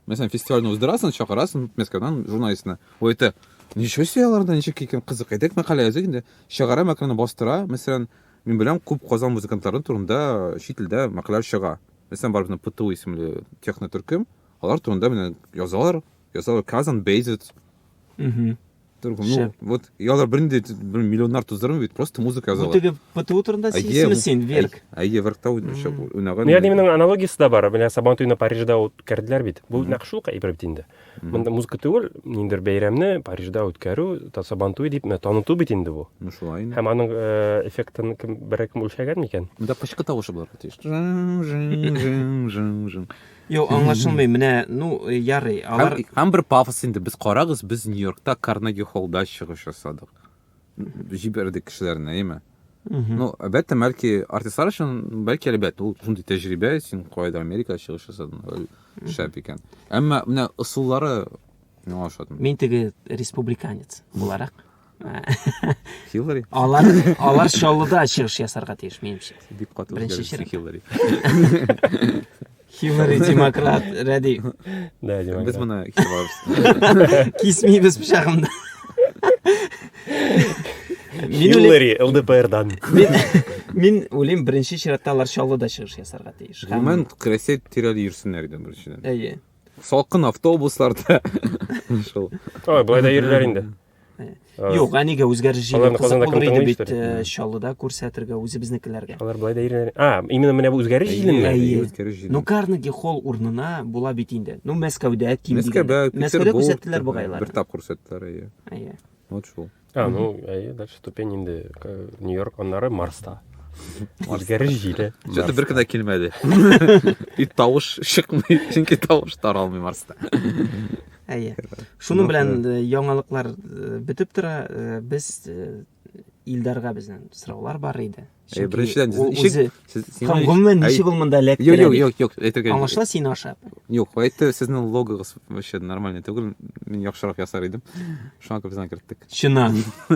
Мәсәлән, фестивальне уздырасың, чакырасың Мәскәүдән журналистны. Ул әйтә, ничего себе аларда, ничек икән, кызык, әйдәк мәкалә языйк инде. Чыгара мәкаләне бастыра, мәсәлән, мин беләм, күп Казан музыкантлары турында чит илдә мәкаләләр чыга. Мәсәлән, бар безнең ПТУ исемле технотөркем, алар турында менә язалар, язалар Казан Бейзит. Угу. Только, ну, Шәп. вот, я алар бернинди бер миллионнар туздырмый бит, просто музыка Бу язалар. теге ПТУ турында Әйе, сисеме бу- син, Верк? Әй- Әйе, Веркта уйнаган. Ну, ягъни минең аналогиясе дә бар. Менә Сабантуйны Парижда үткәрделәр бит. Бу нәкъ шул кайбер бит инде. Монда музыка түгел, ниндер бәйрәмне Парижда үткәрү, Тасабантуй дип менә таныту бит инде бу. Ну шулай инде. Һәм аның э, эффектын кем берәр кем үлчәгән микән? Монда пычкы тавышы булырга тиеш. Жың, жың, жың, жың, жың. Юк, аңлашылмый. Менә, ну, э, ярый, алар Һәм, һәм бер пафос инде. Без карагыз, без Нью-Йоркта Карнеги холлда чыгыш ясадык. җибәрдек кешеләрне, әйеме? Ну, әлбәттә, бәлки артистлар өчен, бәлки әлбәттә, ул шундый тәҗрибә, син кайда Америка чыгыш ясадың, шәп икән. Әмма менә ысуллары миңа ошады. Мин теге республиканец буларак. Хиллари. Алар алар Чаллыда чыгыш ясарга тиеш, минемчә. Бик каты үзгәреш Хиллари. Хиллари демократ, рәди. Да, демократ. Без моны кисеп алабыз. Кисмибез пычагымны. Хиллари ЛДПРдан. Мин уйлыйм, беренче чиратта алар Чаллыда чыгыш ясарга тиеш. Гомумән, Крәсәй тирәли йөрсеннәр иде беренчедән. Әйе. Салкын автобусларда. Шул. Ой, былай да йөриләр инде. Юк, әнигә үзгәреш җиңел кызык булыр иде бит э, Чаллыда күрсәтергә үзебезнекеләргә. Алар былай да иренә. А, именно менә бу үзгәреш җиленме? Үзгәреш җилен. Ну, Карнеги холл урынына була бит инде. Ну, Мәскәүдә ким Мәскәүдә, Мәскәүдә күрсәттеләр бугайлар. Бер тап күрсәттеләр, әйе. Әйе. Вот шул. А, ну, әйе, дальше ступень инде э, Нью-Йорк, аннары Марста. Үзгәреш җиле. Что-то бер кенә килмәде. И тавыш чыкмый, чөнки тавыш таралмый Марста. Әйе. Шуның белән э, яңалыклар э, бетеп тора. Э, без Илдарга безнең сораулар бар иде. Әйе, беренчедән ничек сез сиңа гомумән ничек ул монда эләкте? Юк, юк, юк, юк, әйтергә. Аңлашыла син ашап. Юк, әйтте, сезнең логогыз вообще нормально түгел. Мин яхшырак ясар идем. Шуңа күп зан керттек. Чына.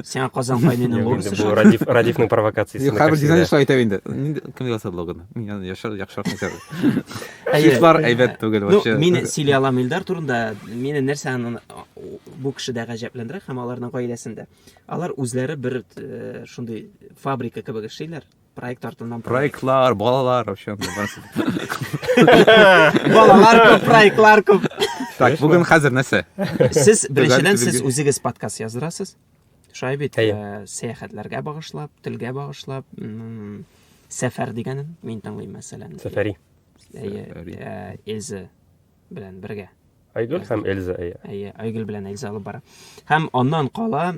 Сиңа Казан кайненең Юк, инде булмысы бу Радиф, Радифның провокациясен Юк, хәбер дизайн шулай итә инде. Нинди кем яза блогны? Мин аны яшәр яхшырак язар. Шишлар әйбәт түгел Ну, вообще. мин сөйли алам Илдар турында. Мине нәрсә аны- бу кешедә гаҗәпләндерә һәм аларның гаиләсендә. Алар үзләре бер э, шундый фабрика кебек эшлиләр. Проект артыннан Проектлар, балалар, вообще. Балалар күп, проектлар күп. Так, бүген хәзер нәрсә? Сез беренчедән сез үзегез подкаст яздырасыз. Шулай бит, э, сәяхәтләргә багышлап, телгә багышлап, сәфәр дигәнен мин тыңлыйм мәсәлән. Сәфәри. Э, Эльза белән бергә. Айгөл һәм Эльза, әйе. Әйе, Айгөл белән Эльза алып бара. Һәм аннан кала,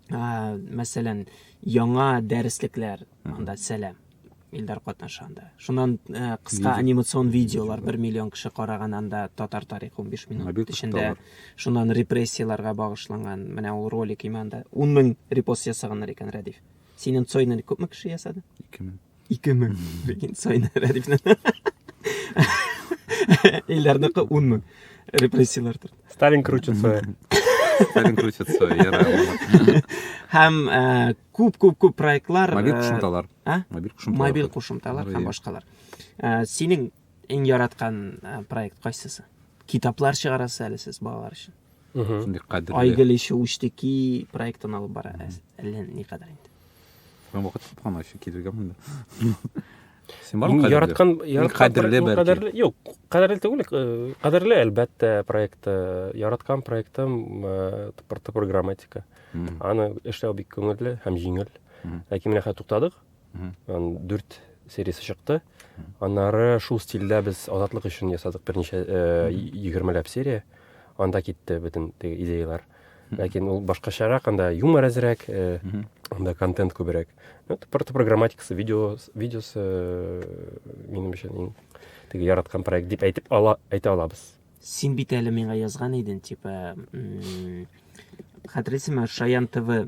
ә, мәсәлән, яңа дәреслекләр, анда сәлам. Илдар катнаша анда. Шуннан ә, кыска Видео. анимацион видеолар 1 миллион кеше караган анда татар тарихы 15 минут Мобиль эчендә. кышталар. Шуннан репрессияләргә багышланган. Менә ул ролик иманда 10 мең репост ясаганнар икән, Рәдиф. Синең Цойны күпме кеше ясады? 2000. Ике мең. Ләкин Сайны Рәдифне. Иләрнеке ун мең. Репрессияләрдер. Сталин крутит свое. Сталин крутит свое, яра. Һәм күп-күп-күп проектлар. Мобиль кушымталар. Мобиль кушымталар. Мобиль кушымталар һәм башкалар. Синең Иң яраткан проект кайсысы? Китаплар чыгарасыз әле сез балалар өчен. Шундый кадерле. Айгөл ише үчтеки проектын алып бара. Әллә ни кадәр инде. Мен вакыт тапкан өчен килергә монда. Син бар кадерле? Яраткан, яраткан кадерле бәлки. Кадерле, юк, кадерле түгел, э, кадерле әлбәттә проект. Э, яраткан проектым э, топор топор грамматика. Аны эшләү бик күңелле һәм җиңел. Ләкин менә хәзер туктадык. дүрт сериясе чыкты аннары шул стильдә без азатлык өчен ясадык берничә э, егермеләп серия анда китте бөтен теге идеялар ләкин ул башкачарак анда юмор әзрәк э, анда контент күбрәк ну просто программатикасы видео видеосы э, минем өчен иң теге яраткан проект дип әйтеп ала әйтә алабыз син бит әле миңа язган идең типа хәтерлисеңме шаян тв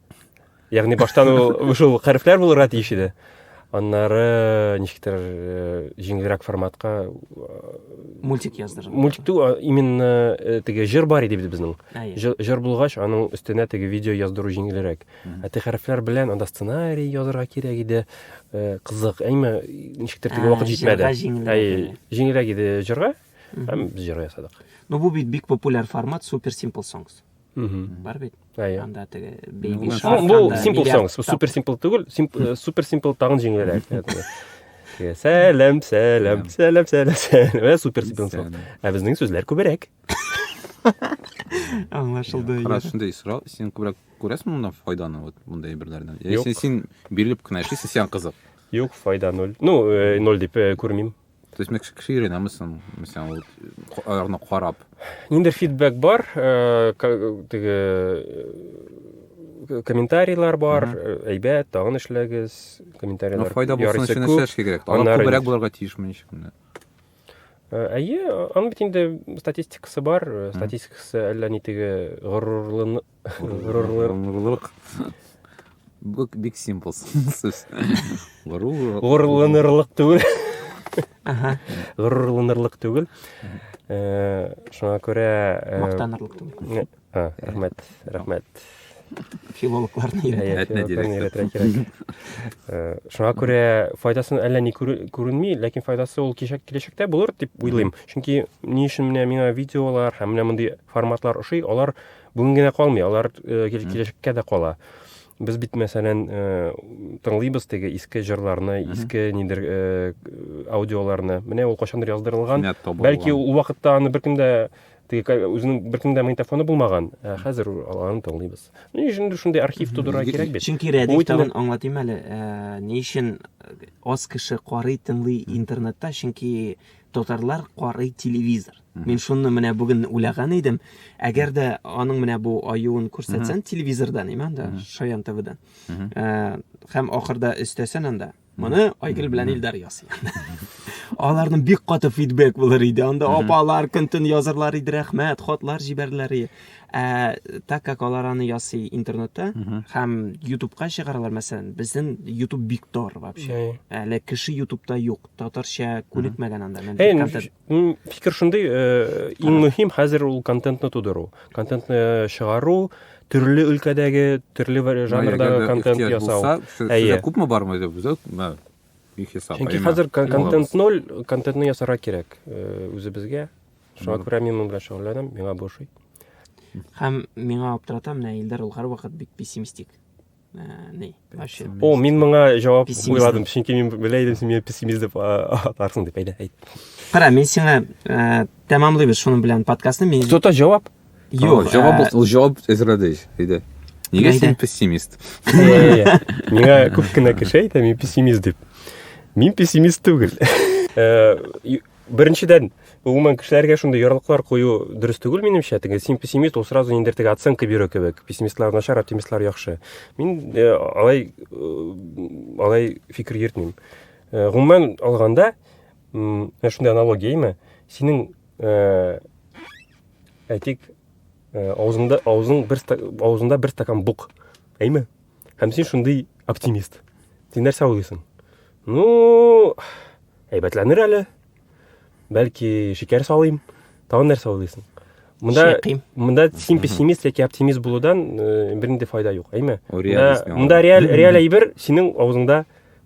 Ягъни баштан ул шул хәрефләр булырга тиеш иде. Аннары ничектер э, җиңелрәк форматка э, мультик яздырдым. Мультик ту именно э, теге җыр бар иде бит безнең. Җыр булгач, аның өстенә теге видео яздыру җиңелрәк. Ә теге хәрефләр белән анда сценарий язырга кирәк иде. Кызык, әйме ничектер теге вакыт җитмәде. Әй, җиңелрәк иде җырга. Һәм без җыр ясадык. Ну бу бит бик популяр формат Super Simple Songs. бар бит анда теге бейби бул симпл соңс бул супер симпл түгел супер симпл тагын жеңелрәк сәләм сәләм сәләм сәләм сәләм супер симпл соңс ә безнең сүзләр күбрәк аңлашылды рас шундай сорау сен күбрәк күрәсең монда файданы вот мындай әйберләрдән яисә син бирелеп кенә эшлисең сиңа кызык юк файда ноль ну ноль дип күрмим То есть мексик шире намысын, мисаң, аларны карап. Нинди фидбэк бар, э, теге э, комментарийлар бар, э, әйбәт, тагын эшләгез, комментарийлар. Ну, файда булсын өчен эшләш кирәк. Алар күбрәк булырга тиеш мин ишекне. Әйе, аның бит инде статистикасы бар, статистикасы әллә ни теге горурлыны Горурлык. Бу бик симпл сүз. Горурлык. Горурланырлык түгел. Ага. Горурланырлык түгел. Э, шуңа күрә э, мактанырлык түгел. А, рәхмәт, рәхмәт. Филологларны өйрәтә. Э, шуңа күрә файдасын әллә ни күренми, ләкин файдасы ул киләчәктә булыр дип уйлыйм. Чөнки ни өчен менә миңа видеолар һәм менә мондый форматлар ошый, алар Бүген генә калмый, алар э, кил- киләчәккә дә кала. Без бит, мәсәлән, э, тыңлыйбыз теге иске җырларны, иске нидер э, аудиоларны. Менә ул кайчандыр яздырылган. Кинәт табылган. Бәлки ул вакытта аны беркем дә теге ка- үзенең беркем дә магнитофоны булмаган. Ә хәзер аларны тыңлыйбыз. Ни өчен инде шундый архив тудырырга кирәк бит? Чөнки Бу Рәдиф итне- тагын аңлатыйм әле, э, ни өчен аз кеше карый, тыңлый интернетта, чөнки Татарлар карый телевизор. Мин шуны менә бүген уйлаган идем. Әгәр дә аның менә бу аюын күрсәтсән телевизордан, имән дә Шаян ТВдан. Э, һәм ахырда өстәсән анда. Моны Айгөл белән Илдар ясый. Аларның бик каты фидбек булыр иде. Анда апалар көн-төн язырлар иде, рәхмәт, хатлар җибәрерләр иде. Ә так как алар аны ясый интернетта һәм ютубка чыгаралар, мәсәлән, безнең ютуб бик тар вообще. Әле кеше ютубта юк. татарча күнекмәгән анда мин фикер шундый э, иң мөһим хәзер ул контентны тудыру контентны чыгару төрле өлкәдәге төрле жанрдагы контент ясау әйе күпме бармы чөнки хәзер контент ноль контентны ясарга кирәк э, үзебезгә шуңа күрә мин моның белән шөгыльләнәм миңа бу ошый һәм миңа аптырата менә илдар ул һәрвакыт бик пессимистик О, мин моңа җавап уйладым, чөнки мин белә идем, син мине пессимист дип атарсың дип әйтә. Кара, мин сиңа э, тәмамлыйбыз шуның белән подкастны. Мин Кто-то җавап? Юк, җавап э, ул җавап әзерләде иде. Нигә син пессимист? Миңа күп кенә кеше әйтә, мин пессимист дип. Мин пессимист түгел. Э, Беренчедән, гомумән кешеләргә шундый ярлыклар кую дөрес түгел минемчә. Теге син пессимист, ул сразу ниндер теге оценка бирү кебек. Пессимистлар начар, оптимистлар яхшы. Мин э, алай э, алай фикер йөртмим. Э, гомумән алганда, менә шундый аналогия име? Синең э, әйтик, э, аузыңда аузың бер аузында бер стакан бук. Әйме? Һәм син шундый оптимист. Син нәрсә уйлыйсың? Ну, әйбәтләнер әле. Бәлки шикәр салыйм. Тагын нәрсә уйлыйсың? Монда Шәким. монда син пессимист яки оптимист булудан э, бернинди файда юк, әйме? Ул Монда, реальность миңа. монда реаль реаль әйбер синең авызыңда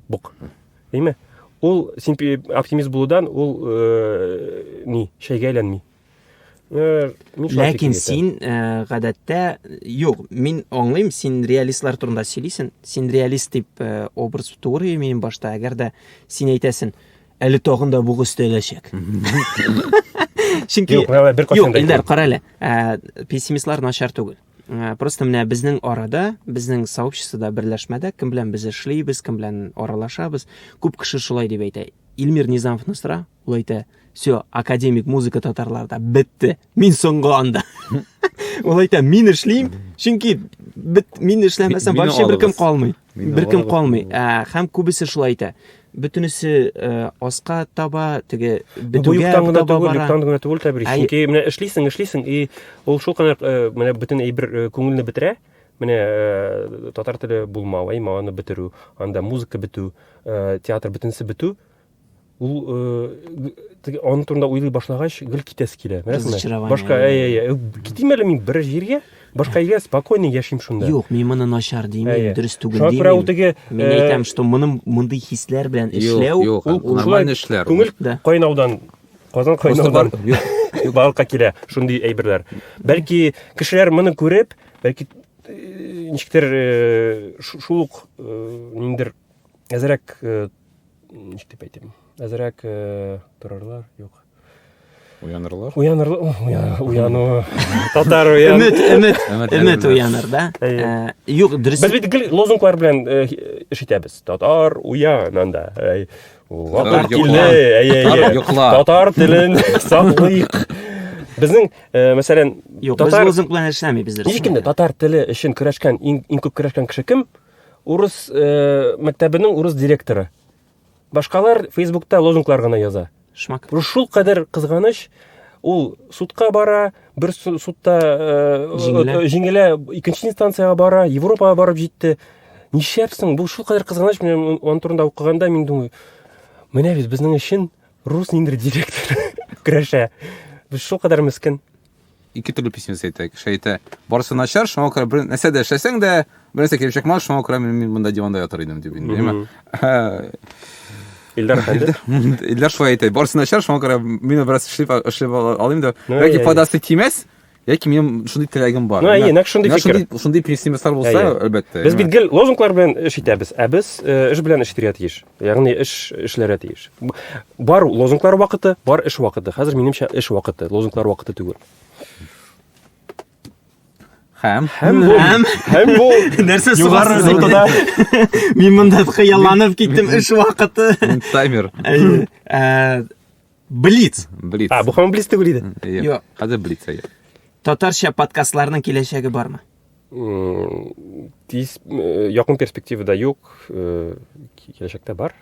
бук. Әйме? Ул син пе- оптимист булудан ул э, ни, шәйгә әйләнми. Э, ләкин син э, гадәттә юк мин аңлыйм син реалистлар турында сөйлисең син реалист дип э, образ тугры мин башта әгәр дә син әйтәсең әле тагын да бугы өстәләчәк чөнки юк элдар кара әле ә, пессимистлар начар түгел ә, просто менә безнең арада безнең сообществода берләшмәдә кем белән без эшлибез кем белән аралашабыз күп кеше шулай дип әйтә илмир низамовны сора ул әйтә все академик музыка татарларда бетте мин соңгы анда ул әйтә мин эшлим чөнки бит мин эшләмәсәм вообще беркем калмый беркем калмый ә, һәм күбесе шулай әйтә бөтенесе э, аска таба теге бетүгә таба бара түгел юктан гына түгел тәбрис чөнки менә эшлисең эшлисең и ул шул кадәр э, менә бөтен әйбер э, күңелне бетерә менә э, татар теле булмау әй маны бетерү анда музыка бетү э, театр бөтенесе бетү ул теге аның турында уйлый башлагач гел китәсе килә беләсеңме башка китим әле мин бер җиргә башка җиргә спокойно яшим шунда юк мин моны начар димим дөрес түгел димим шуңа күрә ул теге мин әйтәм что моның мондый хисләр белән эшләү ул нормальный эшләр күңел кайнаудан казан кайнаудан балыкка килә шундый әйберләр бәлки кешеләр моны күреп бәлки ничектер шул ук ниндидер әзрәк ничек дип әйтим әзрәк э, торырлар юк уянырылар уянырла уяну татар уян өмет өмет өмет уяныр да э, юк дөрес без бит гел лозунглар белән э, эш итәбез татар уян анда татар телен саклыйк Безнең, э, мәсәлән, Юк, татар... без лозунг белән эшләмибез. Һичкемдә татар теле өчен көрәшкән, иң, иң күп көрәшкән кеше кем? Урыс мәктәбенең урыс директоры. Башкалар Фейсбукта лозунглар гына яза. Шмак. Шул кадәр кызганыч, ул судка бара, бер судта җиңелә, икенче инстанциягә бара, Европага барып җитте. Нишләпсең? Бу шул кадәр кызганыч, мен аны турында укыганда мин думаю, менә без безнең өчен рус ниндер директор көрәшә. Без шул кадәр мескен. ике төрле пессимист әйтә. Кеше әйтә, барысы начар, шуңа күрә бер нәрсә дә эшләсәң дә, бер нәрсә килеп чыкмас, шуңа күрә мин, мин монда диванда ятыр идем дип инде, яме. Илдар хәлдә. Илдар шулай әйтә, барысы начар, шуңа күрә мин бераз эшләп эшләп алыйм да, яки файдасы тимәс. Яки минем шундый теләгем бар. Ну, әйе, нәкъ шундый фикер. Шундый, шундый пессимистлар булса, әлбәттә. Без бит гел лозунглар белән эш итәбез, ә без эш белән эш итәргә тиеш. Ягъни эш эшләргә тиеш. Бар лозунглар вакыты, бар эш вакыты. Хәзер минемчә эш вакыты, лозунглар вакыты түгел. Хәм. Хәм бу. Хәм бу. Нәрсә югары нотада? Мин монда хыялланып киттем эш вакыты. Таймер. Э, Блиц. Блиц. А, бу һаман блиц түгел иде. Юк. Юк. Хәзер блиц әйе. Татарча подкастларның киләчәге бармы? М, Тиз, э, якын перспективада юк, э, ки- киләчәктә бар.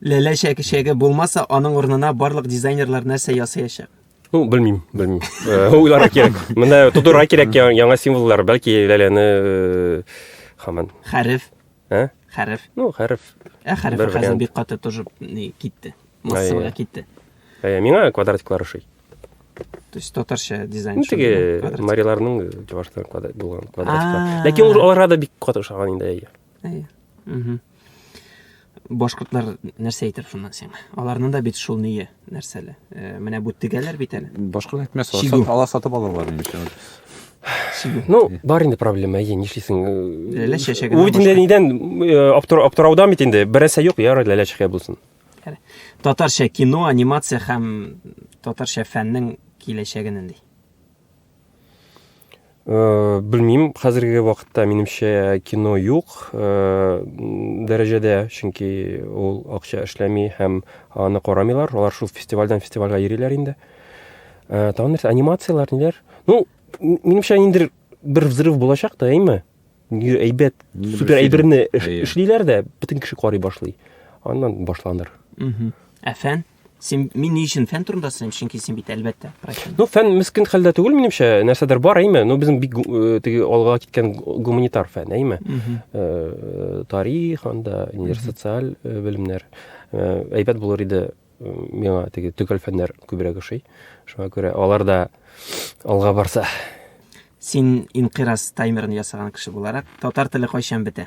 Ләлә чәкешәге булмаса, аның урынына барлык дизайнерлар нәрсә ясаячак? Ну, белмим, белмим. Э, Уйларга кирәк. Менә тудырга кирәк я- яңа символлар, бәлки ләләне э, хаман. Хәреф. Ә? Хәреф. Ну, хәреф. Ә хәреф хәзер бик каты тоже не китте. Массовая китте. Ә миңа квадратиклар ошый. То есть татарча дизайн. Ну, теге мариларның чувашта квадрат булган квадратиклар. Ләкин ул аларга да бик каты ошаган инде әйе. Әйе. Угу. Башкортлар нәрсә әйтер шуннан сиңа? Аларның да бит шул ние. Нәрсәле? Э, менә бу тегәләр бит әле. Башкалар әйтмәс, Чигү. ала сатып алалар инде өчен. Чигү. Ну, бар инде проблема, әйе, нишлисең? Ләлә чәчәгеннән Ул бит инде башка. нидән э, аптыр- аптыраудан бит инде. Берәрсә юк, ярар, ләлә чәчәге булсын. Әне. Татарча кино, анимация һәм татарча фәннең киләчәге нинди? Э, белмим хәзерге вакытта минемчә кино юк э, дәрәҗәдә чөнки ул акча эшләми һәм аны карамыйлар алар шул фестивальдән фестивальгә йөриләр инде э, тагын нәрсә анимацияләр ниләр ну минемчә ниндидер бер взрыв булачак та әйме әйбәт супер әйберне эшлиләр дә бөтен кеше карый башлый аннан башланыр ә фән Син мин ни өчен фән турында сөйлим, чөнки син бит әлбәттә профессионал. Ну, фән мискин хәлдә түгел минемчә, нәрсәдер бар, әйме. Ну, безнең бик э, теге алга киткән гуманитар фән, әйме. Э, тарих анда, нидер социаль э, белемнәр. Әйбәт булыр иде миңа теге төгәл фәннәр күбрәк ошый. Шуңа күрә алар да алга барса. Син инкырас таймерын ясаган кеше буларак, татар теле кайчан бетә?